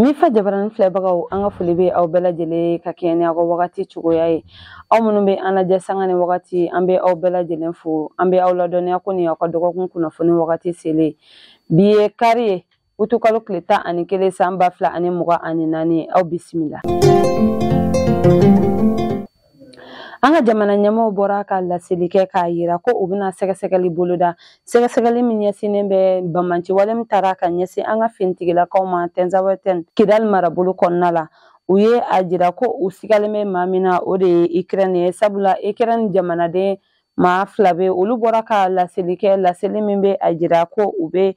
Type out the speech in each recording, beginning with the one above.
Ni fa jabaranin filɛbagaw an ka foli bɛ aw bɛɛ lajɛlen ka kɛɲɛ ni aw ka wagati cogoya ye aw minnu bɛ an lajɛ sanga ni wagati an bɛ aw bɛɛ lajɛlen fo an bɛ aw ladɔnniya ko nin aw ka dɔgɔkun kunnafoni wagati selen bi ye kari ye utukalo tile tan ani kelen san ba fila ani mugan ani naani aw bisimila. An ka jamana ɲɛmaaw bɔra ka laseli kɛ k'a jira ko u bɛna sɛgɛsɛgɛli boloda sɛgɛsɛgɛli min ɲɛsinnen bɛ bamanciwale min taara ka ɲɛsin an ka finitigilakaw ma tɛnzawɛtɛn kidali marabolo kɔnɔna la u ye a jira ko u sigalen bɛ maa min na o de ye ikirɛni ye sabula ikirɛni jamanaden maa fila bɛ olu bɔra ka laseli kɛ laseli min bɛ a jira ko u bɛ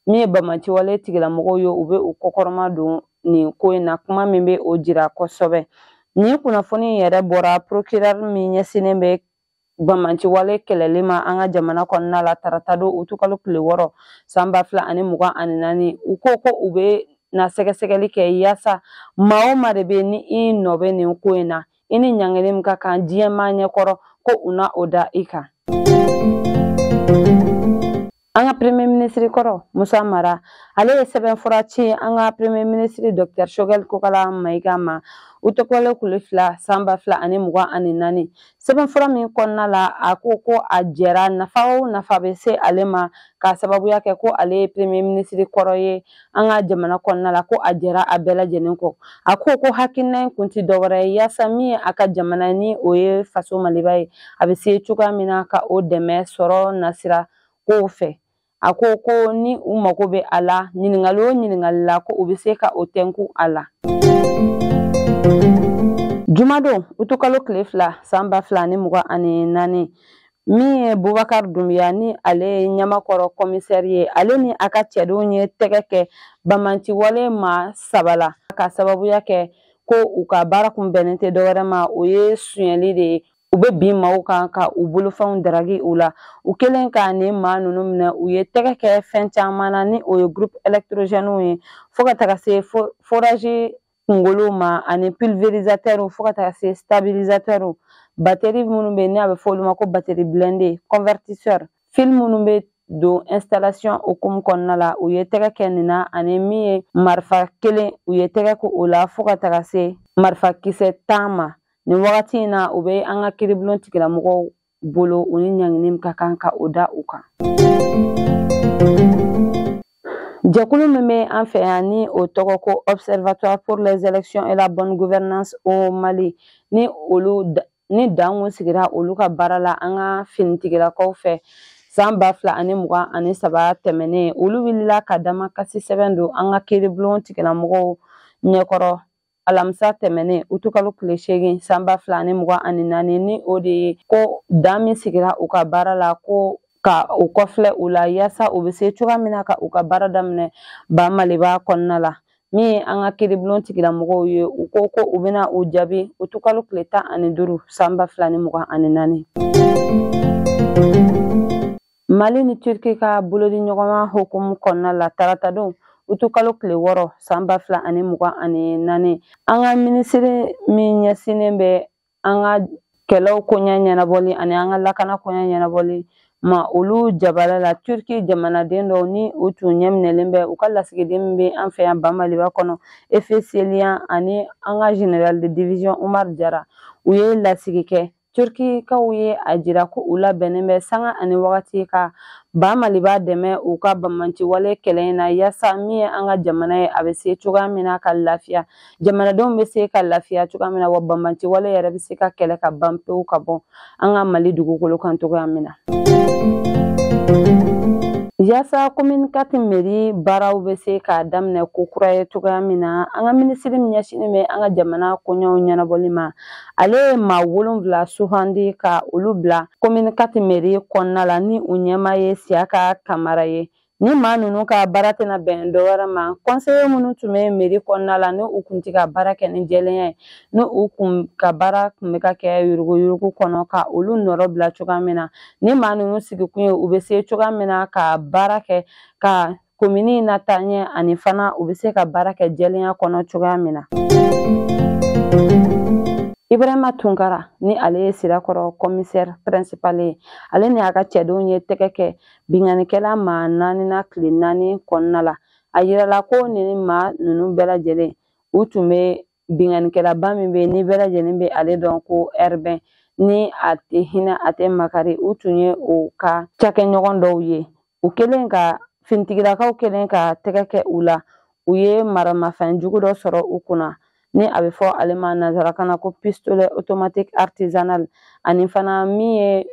min ye bamanciwale tigilamɔgɔw ye u bɛ u kɔkɔrɔma don nin ko in na kuma min bɛ o jira kosɛbɛ nin kunnafoni yɛrɛ bɔra procureur min ɲɛsinnen bɛ bamanciwale kɛlɛli ma an ka jamana kɔnɔna la tarata don utukalo tile wɔɔrɔ san ba fila ani mugan ani naani u ko ko u bɛna sɛgɛsɛgɛli kɛ yaasa maa o maa de bɛ ni i nɔ bɛ nin ko in na i ni ɲangili min ka kan diɲɛ maa ɲɛkɔrɔ ko u na o da i kan An ka premier ministre kɔrɔ Musa Mara ale ye sɛbɛn fura ci an ka premier ministre docteur Choguel Kokala Mayiga ma utukalo tile fila san ba fila ani mugan ani naani sɛbɛn fura min kɔnɔna la a ko ko a jɛra nafa o nafa bɛ se ale ma k'a sababuya kɛ ko ale ye premier ministre kɔrɔ ye an ka jamana kɔnɔna la ko a jɛra a bɛɛ lajɛlen kɔ a ko ko hakilina in kun tɛ dɔwɛrɛ ye yaasa min ye a ka jamana ni o ye faso maliba ye a bɛ se cogoya min na ka o dɛmɛ sɔrɔ nasira kow fɛ a ko ko ni u mago bɛ a la ɲininkali o ɲininkali la ko u bɛ se ka o tɛnku a la. jumadon utukalo tile fila san ba fila ni mugan ani naani min ye bubakar dunbiya ni ale ye ɲamakɔrɔ kɔmisɛri ye ale ni a ka cɛdenw ye tɛgɛ kɛ bamanciwale maa saba la ka sababuya kɛ ko u ka baara kun bɛnnen tɛ dɔwɛrɛ ma o ye sonyɛli de ye u bɛ bin maaw kan ka u bolofɛnw daragi u la u kɛlen ka nin maa ninnu minɛ u ye tɛgɛ kɛ fɛn caman na ni o ye groupe électrogènes ye fo ka taga se forage kunkolo ma ani pulvérisateur fo ka taga se stabilisateur bateri minnu bɛ ni a bɛ fɔ olu ma ko bateri blindé convertisseur fil minnu bɛ don installation hukumu kɔnɔna la u ye tɛgɛ kɛ nin na ani min ye marifa kelen u ye tɛgɛ kɛ o la fo ka taga se marifa kisɛ tan ma nin wagati in na u bɛ an ka kiribulon tigilamɔgɔw bolo u ni ɲangini min ka kan ka o da u kan jɛkulu min bɛ an fɛ yan ni o tɔgɔ ko observatoire pour les élections et la bonne gouvernance au mali ni dan kun sigira olu ka baara la an ka finitigilakaw fɛ san ba fila ani mugan ani saba tɛmɛnen olu wulila ka damakasi sɛbɛn don an ka kiiribulon tigilamɔgɔw ɲɛkɔrɔ alamisa tɛmɛnen utukalo tile seegin sanba fila ni mugan ani naani ni o de ye ko dan min sigira u ka baara la ko ka u kɔfilɛ u la yaasa u bɛ se cogoya min na ka u ka baara daminɛ ba maliba kɔnɔna la min ye an ka kiiribulon tigilamɔgɔw ye u ko ko u bɛna u jaabi utukalo tile tan ani duuru sanba fila ni mugan ani naani Mali ni Turki ka bolodiɲɔgɔnma hukumu kɔnɔna la taratadon utukalo tile wɔɔrɔ san ba fila ani mugan ani naani an ka minisiri min ɲɛsinnen bɛ an ka kɛlɛw koɲɛ ɲɛnabɔli ani an ka lakana koɲɛ ɲɛnabɔli ma olu jabala la turki jamanaden dɔw ni u tun ɲɛminɛlen bɛ u ka lasigiden min bɛ an fɛ yan bamaliba kɔnɔ efe seliyan ani an ka général de division umar jara u ye lasigi kɛ turkikaw ye a jira ko u labɛnnen bɛ sanga ani wagati ka ba maliba dɛmɛ u ka banbaanciwale kɛlɛ in na yaasa min ye an ka jamana ye a bɛ se cogoya min na ka lafiya jamanadenw bɛ se ka lafiya cogoya min na wa banbaanciwale yɛrɛ bɛ se ka kɛlɛ ka ban pewu ka bɔ an ka mali dugukolo kan cogoya min na Yaasa commune quatre meri baaraw bɛ se ka daminɛ ko kura ye cogoya min na an ka minisiri min ɲɛsinnen bɛ an ka jamana koɲɛw ɲɛnabɔli ma ale ye maa wolonfila sugandi ka olu bila commune quatre meri kɔnɔna la ni u ɲɛmaa ye siyaka kamara ye ni maa ninnu ka baara tɛna bɛn dɔ wɛrɛ ma kɔnseye minnu tun bɛ meri kɔnɔna la ni u kun tɛ ka baara kɛ ni jɛlenya ye ni u kun ka baara kun bɛ ka kɛ yuruguyurugu kɔnɔ ka olu nɔrɔ bila cogoya min na ni maa ninnu sigikun ye u bɛ se cogoya min na ka baara kɛ ka komini in nataa ɲɛ ani fana u bɛ se ka baara kɛ jɛlenya kɔnɔ cogoya min na ibrahima tunkara ni ale ye sirakɔrɔ commissaire principal ye ale ni a ka cɛdenw ye tɛgɛ kɛ binkannikɛla maa naani na tile naani kɔnɔna la a yirala ko nin maa ninnu bɛɛ lajɛlen u tun bɛ binkannikɛlaba min bɛ yen ni bɛɛ lajɛlen bɛ ale dɔn ko ɛribɛn ni a tɛ hinɛ a tɛ makari u tun ye o ka cakɛɲɔgɔn dɔw ye u kɛlen ka finitigilakaw kɛlen ka tɛgɛ kɛ u la u ye maramafɛn jugu dɔ sɔrɔ u kunna ni a bɛ fɔ ale ma nanzarakan na ko pistolet automatique artisanal ani fana min ye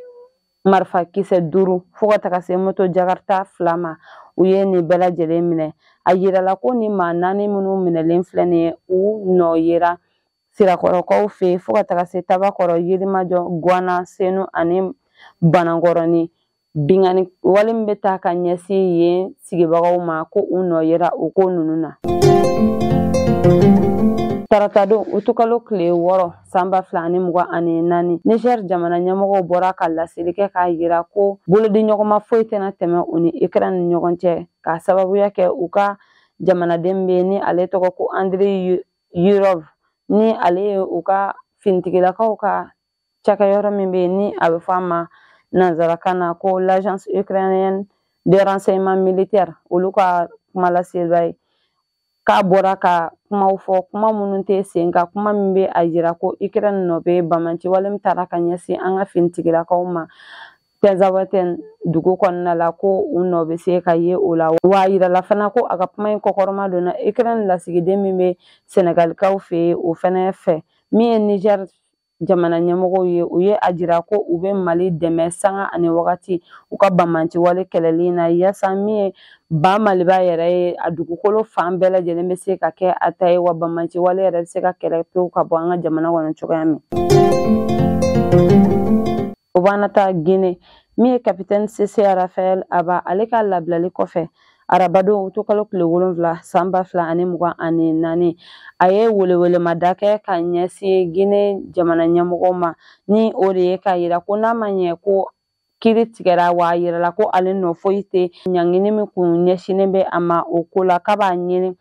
marifa kisɛ duuru fo ka taga se moto jakarta fila ma u ye nin bɛɛ lajɛlen minɛ a yirala ko nin maa naani minnu minɛlen filɛ nin ye u nɔ yera sirakɔrɔkaw fɛ fo ka taga se tabakɔrɔ yirimajɔ guwana senu ani banankɔrɔni binkanni wale min bɛ taa ka ɲɛsin yen sigibagaw ma ko u nɔ yera o ko ninnu na taratadon utukalo tile wɔɔrɔ san ba fila ani mugan ani naani niger jamana ɲɛmɔgɔw bɔra ka laseli kɛ k'a yira ko bolodiɲɔgɔnma foyi tɛna tɛmɛ u ni ukraine ni ɲɔgɔn cɛ k'a sababuya kɛ u ka jamanaden bɛ ni ale tɔgɔ ko andre yurov ni ale ye u ka finitigilakaw ka cakɛyɔrɔ min bɛ ni a bɛ fɔ a ma nanzarakan na ko l'agence ukrainienne de renseignement militaire olu ka kuma laselibaa ye k'a bɔra ka kumaw fɔ kuma minnu tɛ se ka kuma min bɛ a yira ko ikirɛn nɔ bɛ banbaanci wale min taara ka ɲɛsin an ka finitigilakaw ma tɛnzawatɛn dugu kɔnɔna la ko u nɔ bɛ se ka ye o la wa a yirala fana ko a ka kuma in kɔkɔrɔma donna ikirɛn lasigiden min bɛ sɛnɛgalikaw fɛ yen o fana fɛ min ye nizɛri jamana ɲɛmɔgɔw ye u ye a jira ko u bɛ mali dɛmɛ sanga ani wagati u ka banbaanci wale kɛlɛli na yasa min ye ba maliba yɛrɛ ye a dugukolo fan bɛɛ lajɛlen bɛ se ka kɛ a ta ye wa banbaanci wale yɛrɛ bɛ se ka kɛlɛ pewu ka bɔ an ka jamana kɔnɔ cogoya min o b'an ta gine min ye kapitɛni sese rafael haba ale ka labilali kɔfɛ arabadon utukalo tile wolonfila san ba fila ani mugan ani naani a ye welewelemada kɛ ka ɲɛsin gine jamana ɲɛmɔgɔw ma ni o de ye k'a yira ko n'a ma ɲɛ ko kiri tigɛra wa a yirala ko ale nɔ foyi tɛ ɲangini min kun ɲɛsinnen bɛ a ma o ko la k'a b'a ɲini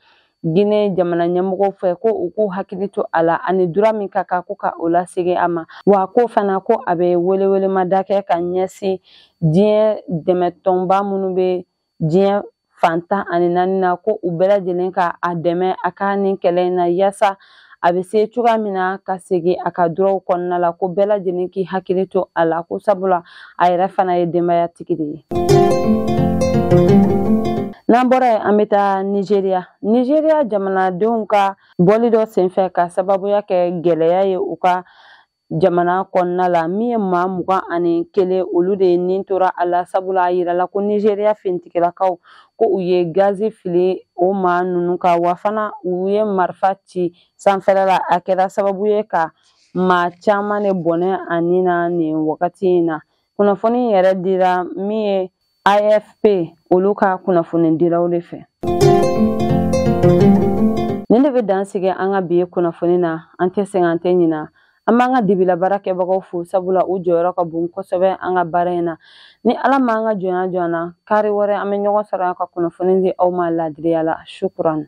Gine jamana ɲɛmɔgɔw fɛ ko u k'u hakili to a la ani dura min ka kan ko ka o lasegin a ma wa ko fana ko a bɛ welewelemada kɛ ka ɲɛsin diɲɛ dɛmɛtɔnba minnu bɛ diɲɛ fan tan ani naani na ko u bɛɛ lajɛlen ka a dɛmɛ a ka nin kɛlɛ in na yaasa a bɛ se cogoya min na ka segin a ka duraw kɔnɔna la ko bɛɛ lajɛlen k'i hakili to a la ko sabula a yɛrɛ fana ye denbayatigi de ye n'an bɔra yen an bɛ taa nizeriya nizeriya jamanadenw ka bɔli dɔ senfɛ k'a sababuya kɛ gɛlɛya ye u ka jamana kɔnɔna la min ye maa mugan ani kelen olu de ni tora a la sabula a yirala ko nizeriya finitigilakaw ko u ye gazi fili o maa ninnu kan wa fana u ye marifa ci sanfɛla la a kɛra sababu ye ka maa caman de bɔnɛ a ni na nin wagati in na kunnafoni yɛrɛ dira min ye afp olu ka kunnafonidilaw de fɛ nin de bɛ dan sigi an ka bi kunnafoni na an tɛ sɛgɛn an tɛ ɲina an b'an ka dibila baarakɛbagaw fo sabula u jɔyɔrɔ ka bon kosɛbɛ an ka baara in na ni ala m'an ka jɔnya jɔ an na kari wɛrɛ an bɛ ɲɔgɔn sɔrɔ an ka kunnafoni di aw ma laadiriya la shukran